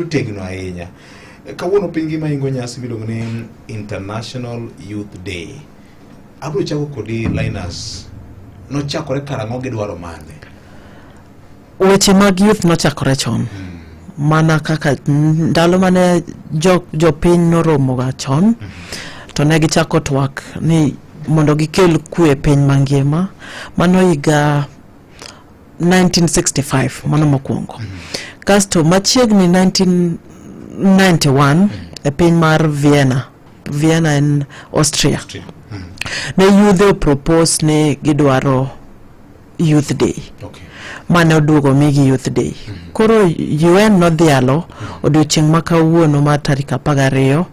otegno ahinya. Kawuono piny ngima ingo nyasi miluongo ni International Youth Day. Abiro chako kodi Linus, nochakore karang'o gi dwaro mane? Weche mag youth nochakore chon hmm. mana kaka ndalo mane jopiny jo noromoga chon mm -hmm. to ne gichako twak ni mondo gikel kwe piny mangima mano higa 1965 mano mokwongo mm -hmm. kasto machiegni 1991 mm -hmm. e piny mar vienna vienna en austria, austria. Mm -hmm. ne yudhe opropose ni gidwaro youth day okay. mane oduogo migi youth day mm -hmm. koro un nodhialo mm -hmm. odiochieng' ma kawuono mar tarik apar gariyo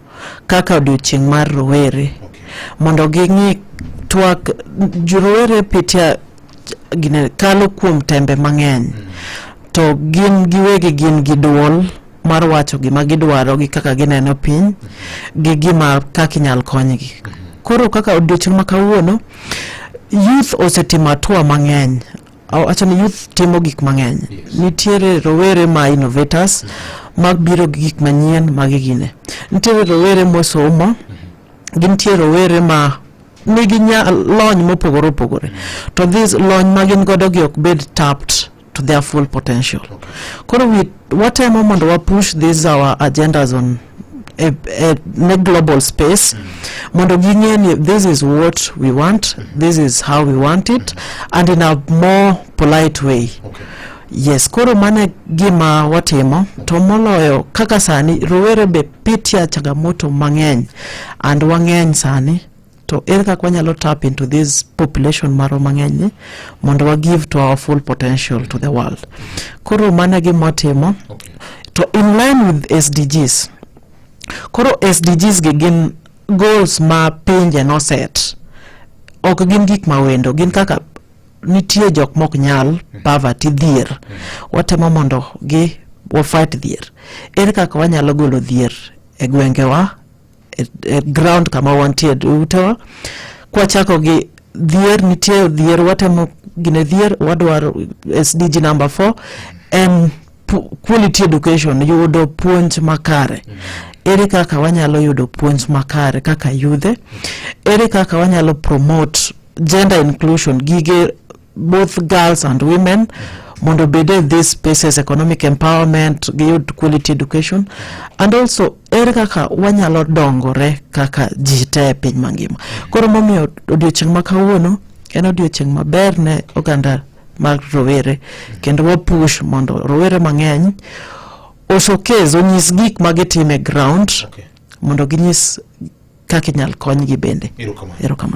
kaka odiochieng' mar rowere okay. mondo ging'i twak rowere pitia gine kalo kuom tembe mang'eny to gin giwegi gin gi duol mar wacho gima gidwaro gi kaka gineno piny gi gima kaka inyal konygi koro kaka odiochieng' ma kawuono youth osetimo atua mang'eny awacho ni youth timo gik mang'eny Yes. nitiere rowere ma innovators mabiro gi gik manyien ma gigine nitiere rowere mosomo gintie rowere ma nigi lony mopogore opogore to this lony ma gin godo gi ok bed tapped to their full potential koro watemo mondo wa push these our agendas on a, a, a global space mm. mondo ging'e ni this is what we want mm. this is how we want it mm. and in a more polite way okay. yes koro mane gima watimo to moloyo kaka sani rowere be pitia changamoto mang'eny and wang'eny sani to ere kaka wanyalo tap into this population marwa mang'eny ni mondo wa give to our full potential to the world koro mano gi motimo okay. to in line with sdgs koro sdgs gi gin goals ma pinje no set ok gin gik mawendo gin kaka nitie jok mok nyal mm-hmm. poverty dhier mm-hmm. watemo mondo gi wafight dhier ere kaka wanyalo golo dhier e gwengewa e, e ground kama wantie dutewa kwachako gi dhier nitie dhier watemo gine dhier wadwaro sdg number four en quality education yudo puonj makare mm -hmm. ere kaka wanyalo yudo puonj makare kaka yudhe ere kaka wanyalo promote gender inclusion gige both girls and women mondo obed e these spaces economic empowerment giyud quality education and also ere kaka wanyalo dongore kaka ji te e piny mangima koro momiyo odiochieng' ma kawuono en odiochieng' maber ne oganda mag rowere kendo wapush mondo rowere mang'eny osokez onyis gik ma gitime ground okay. mondo ginyis kaka inyal konygi bende erokamano